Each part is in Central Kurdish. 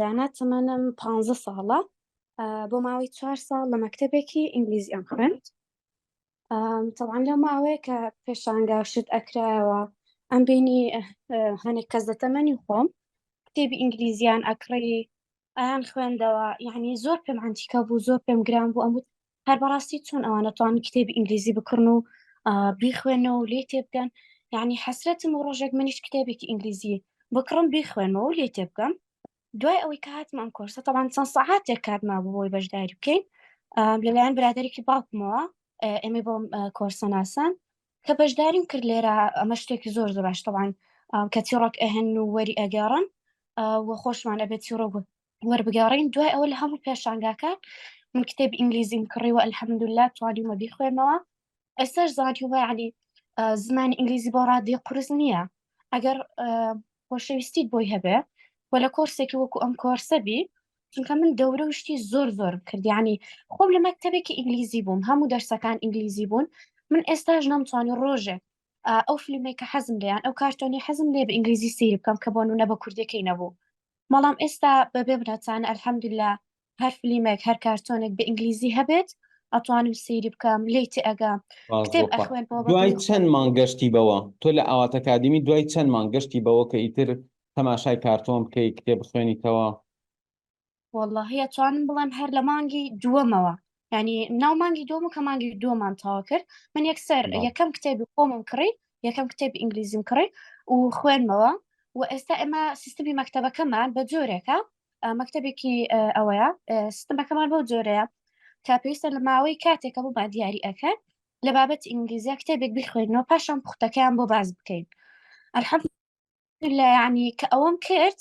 دانا تەمەنم پ ساڵە بۆ ماوەی چوار ساڵ لە مەکتتەبێکی ئینگلیزی ئەم خوێند تەوان لەو ماوەیە کە پێشانگا شت ئەکرایەوە ئەم بینی هەنێک کەس دەتەمەنی خۆم کتێبی ئینگلیزیان ئەکڕی ئەیان خوێندەوە یعنی زۆر پێم ئەنتیکە بوو زۆر پێم گران بوو ئەموت هەر بەڕاستی چۆن ئەوانە توان کتێبی ئینگلیزی بکڕن و بیخوێنەوە و لێ تێبگەن یعنی حەسرەتم و ڕۆژێک منیش کتێبێکی ئینگلیزی بکڕم بیخوێنەوە و لێ تێبگەم دوای ئەوەی کە هاتم ئەم کۆرسە تەوان چەند سەعاتێک کاتما بۆی بەشداری بکەین لەلایەن برادێکی باوکمەوە ئێمە بۆ کۆرسە ناسان کە بەشداریم کرد لێرە ئەمە شتێکی زۆر زۆراشتەوان کە تیڕۆک ئەهێن و وەری ئەگەڕن وە خۆشمان ئەبێت تیڕۆک وەربگەڕین دوای ئەوە لە هەموو پێشانگاکان من کتێب ئینگلیزیم کڕیوە الحمدلله توانیمە بیخوێنەوە ئێستاش زانانی وای علی زمانی ئینگلیزی بۆ ڕادی قرس نییە ئەگەر خۆشەویستیت بۆی هەبێ و لە کۆرسێکی وەکو ئەم کۆرسە بی چونکە من دەورە و شتی زۆر زۆر کردیانی خۆم لە مەکتتەبێکی ئینگلیزی بووم هەموو دەرسەکان ئینگلیزی بوون من ئێستاش نەمتوانی ڕۆژێ ئەو فیلمێکە حەزم لیان ئەو کارتۆنی حەزم لێ بە ئینگلیزی سیر بکەم کە بۆ نونە بە کوردەکەی نەبوو بەڵام ئێستا بەبێ بنەچانە الحمدللە هەر فلیمێک هەر کارتۆنێک بە ئینگلیزی هەبێت ئەتوانم سەیری بکەم لێی تێئەگا باش کتێب بۆخوا ئەخوێنمەوە بە دوای دڵی چەن خۆم مانگ گەشتی بەوە تۆ لە ئاوات ئەکادیمی دوای چەن مانگ گەشتی بەوە کە ئیتر تەماشای کارتۆن بکەی کتێب بخوێنیتەوە؟ وەڵاهی ئەتوانم بڵێم هەر لە مانگی دووەمەوە ینی ناو مانگی دوم و کە مانگی دومان تاوا کرد من یەکسەر یەکەم کتێبی خۆمم کڕی یەکەم کتێب ئینگلیزیم کڕی و خوێنمەوە و ئێستا ئێمە سیستمی مەکتتەبەکەمان بە جۆرێکە مەکتتەبێکی ئەوەیە سیستمەکەمان بەو جۆرەیە کە پێویستە لە ماوەی کاتێکە بۆ با دیاری ئەەکەن لە بابەت ئینگلیزیا کتێبێک بخوێنەوە پاشان پوختەکەیان بۆ باز بکەین ئەلحەم لە یعنی کە ئەوەم کرد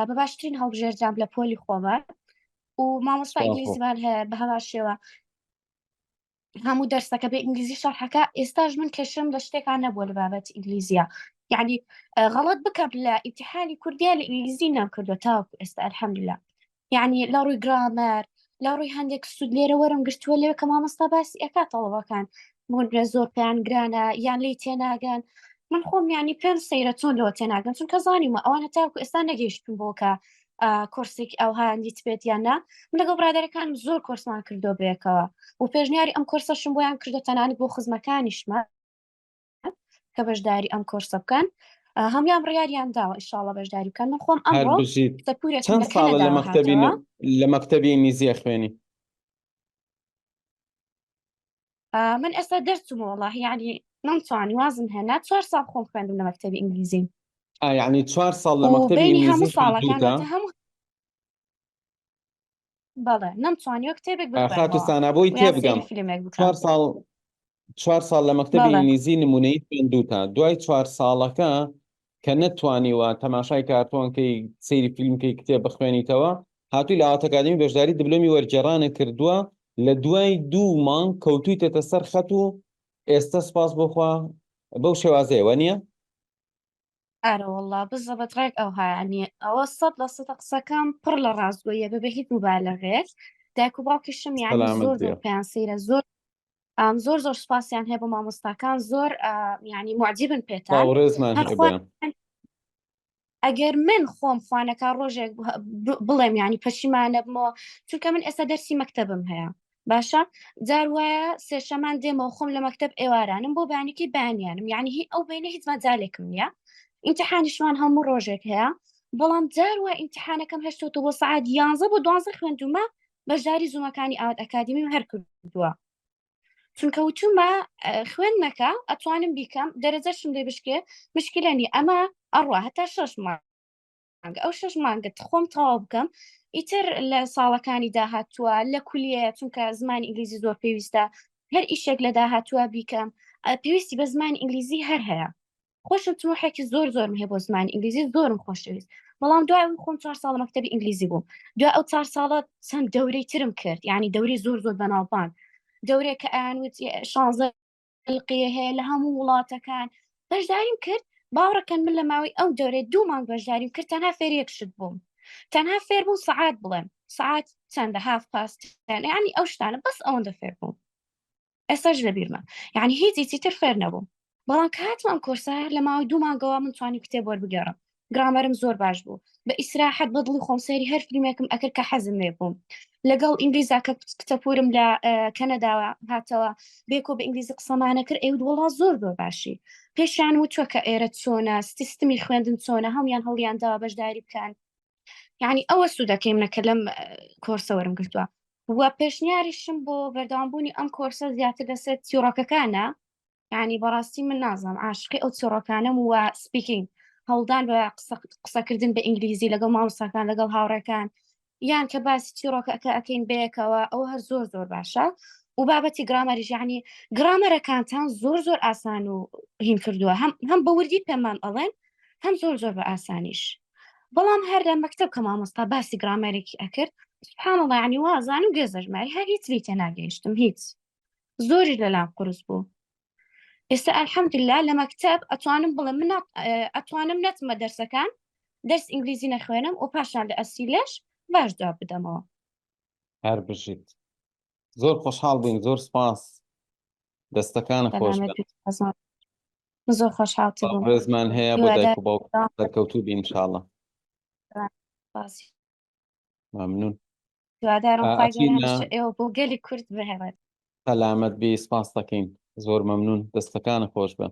بە باشترین هەڵبژێردرام لە پۆلی خۆمە و مامۆستا ئینگلیزیمان هەیە بە هەوا شێوە هەموو دەرسەکە بە ئینگلیزی شەرحەکە ئێستاش من کەشم لە شتێکان نەبووە لە بابەت ئینگلیزیە یعنی غەڵت بکەم لە ئیتحانی کوردیا لە ئینگلیزی نام کردو تاوەکو ئێستا الحمدللا یعنی لە ڕووی گرامەر لە ڕووی هەندێک سوود لێرە وەرم گرتووە لێ کە مامۆستا باسی ئەکا تەڵەبەکان بۆنرە زۆر پێیان گرانە یان لی تێناگەن من خۆم ینی پێم سەیرە چۆن لەوە تێناگەن چونکە زانیمە ئەوان هەتاکو ئێستا نەگەیشتون بۆکە کۆرسێک ئەو هاندیت بێت یان نا من لەگەڵ برادەرەکان زۆر کۆرسمان کردو بێکەوە و پێشنیاری ئەم کۆرسەشم بۆیان کردو تەنانەت بۆ خزمەکانیشمە کە بەشداری ئەم کۆرسە بکەن هەموان بڕیاریان داوە ئیشاڵە بەشداری بکەن من خۆم ئەم چەند ساڵە لە مەکتتەبی لە مەکتتەبی ئینگلیزیە خوێنی من ئێستا دەرچوومە وڵاهی ینی من توانی وازم هێنا چوار ساڵ خۆم خوێندم لە مەکتتەبی ئینگلیزیم ئاینی چوار ساڵ لە مەکتتەبی ئینگلیزی هەموو بەڵێ نەمتوانیوە کتێبێک ئا خاتوو بخوێنمەوە سانا بۆی ویان سەیری تێبگەم فیلمێک چوار بکەم ساڵ چوار ساڵ لە مەکتەبی بەڵێ ئینگلیزی نمونەیی خوێندووتە دوای چوار ساڵەکە کە نەتتوانیوە تەماشای کارتۆن کەی سەیری فیلم کەی کتێب بخوێنیتەوە هاتووی لە ئاوات ئەکادمی بەشداری دبلۆمی وەرگێڕانە کردووە لە دوای دوو مانگ کەوتوویتەتە سەر خەت و ئێستا سپاس بۆ خوا بەو شێوازەیە وە نییە ئارەوەڵڵا بزەبت ڕێک ئەوهایا نیە ئەوە سەد لە سەدە قسەکان پڕ لە ڕاستگۆیە بە بە هیچ موبالەغەیەک دایک و باوکیشم یانی سەلامت زۆر زۆر بێ پێیان سەیرە زۆر ئام زۆر زۆر سوپاسیان هەیە بۆ مامۆستاکان زۆر ئا، یانی معجبن سڵاو پێتان و ڕێزمان هەر خوا هەبێ ئەگەر من خۆم خوانەکا ڕۆژێک ب- ب- بڵێم یانی پەشیمانەبمەوە چونکە من ئێستا دەرسی مەکتەبم هەیە باشە جار وایە سێشەمان دێمەوە خۆم لە مەکتب ئێوارانم بۆ بانەکەی بانیانم یعنی هی ئەو بینە هیچ مەجالێکم نییە ئینتحانیشمان هەموو ڕۆژێک هەیە بەڵام جار وای ئینتحانەکەم هەشتۆتە بۆ سعات یانزە بۆ دوانزە خوێندومە بەشداری زوومەکانی ئاوات ئەکادمی و هەر کردووە چونکە وچوومە خوێن نەکە ئەتوانم بیکەم دەرەجەشم لێ بشکێ مشکلەنی ئەمە ئەڕوا هەتا شەش مار مانگە ئەو شش مانگت خۆم تەواو بکەم ئیتر لە ساڵەکانی داهاتووە لە کولیە چونکە زمانی ئینگلیزی زۆر پێویستە هەر ئیشێک لە داهاتووە بیکەم پێویستی بە زمانی ئینگلیزی هەر هەیە خۆشم تموحێکی زۆر زۆرم هەیە بۆ زمان ئینگلیزی زۆرم خۆشەویست بەڵام دوای ئەو خۆم چوار ساڵ مەکتتەبی ئینگلیزی بوو دو ئەو چار ساڵە چەند دەورەی ترم کرد یعنی دەوری زۆر زۆر بەناوبان دەورێک کە ئەیانوت شانزە ئەلقیە هەیە لە هەموو وڵاتەکان بەشداریم کرد باوڕەکەن من لە ماوەی ئەو دەورێ دوو مانگ بەشداریم کرد تەنها فێر یەک شت بووم تەنها فێر بوو سعات بڵێم سعات چەندە هاف پاست ینی ئەو شتانە بەس ئەوەندە فێر بووم ئێساش لە بیرمە یعنی هیچی تر فێر نەبووم بەڵام کاتم ئەم کۆرسە لە ماوەی دوو مانگەوە من توانی کتێب وەربگەڕم گرامەرم زۆر باش بوو بە ئیسراحەت بە دڵی خۆم سەیری هەر فیلمێکم ئەکرد کە حەزم لێ بووم لەگەڵ ئینگلیزا کە کتەپورم لە کەنەداوە هاتەوە بێکۆ بە ئینگلیزی قسەمانە کرد ئەو وڵا زۆر زۆر باشی پێشیان وتوە کە ئێرە چۆنە سیستمی خوێندن چۆنە هەڵیان هەڵیان داوا بەشداری بکەن یعنی ئەوە سوودەکەیم نەکە لەم کۆرسەوەرم گرتووە و پێشنیاریشم بۆ بەردەوامبوونی ئەم کۆرسە زیاتر لەسەر تیڕۆکەکانە یعنی بەڕاستی من نازم عاشقی ئەو چۆڕەکانم و سپیکینگ هەوڵدان بە قسەکردن بە ئینگلیزی لەگەڵ مامۆستاکان لەگەڵ هاوڕێکان یان کە باسی چیڕۆکەکە ئەەکەین بەیەکەوە ئەو هەر زۆر زۆر باشە و بابەتی گرامەریژانی گرامەرەکانتان زۆر زۆر ئاسان و هین کردووە هەم هەم بە وردی پێمان ئەڵێن هەم زۆر زۆر بە ئاسانیش بەڵام هەر لە مەکتب کە مامۆستا باسی گرامەرێکی ئەکرد سبحان الله عنی وازان و گێزەژماری هەر هیچ لی تێناگەیشتم هیچ زۆریش لەلام قرس بوو ئێستا ئەلحەمدللا لە مەکتب ئەتوانم بڵێم من ئەتوانم نەتمە دەرسەکان دەرس ئینگلیزی نەخوێنم و پاشان لە ئەسی لەش باش جواب بدەمەوە هەر بژیت زۆر خۆشحاڵ بووین زۆر سپاس دەستەکان خۆش زۆر خۆشحاڵ ڕێزمان هەیە بۆ دایک و باوکەکەوتوو بینشاڵە ممنون دوادارم ئێوە بۆ گەلی کورد بهێڵێت سەلامت بی سپاس دەکەین زۆر ممنون دەستەکانە خۆش بن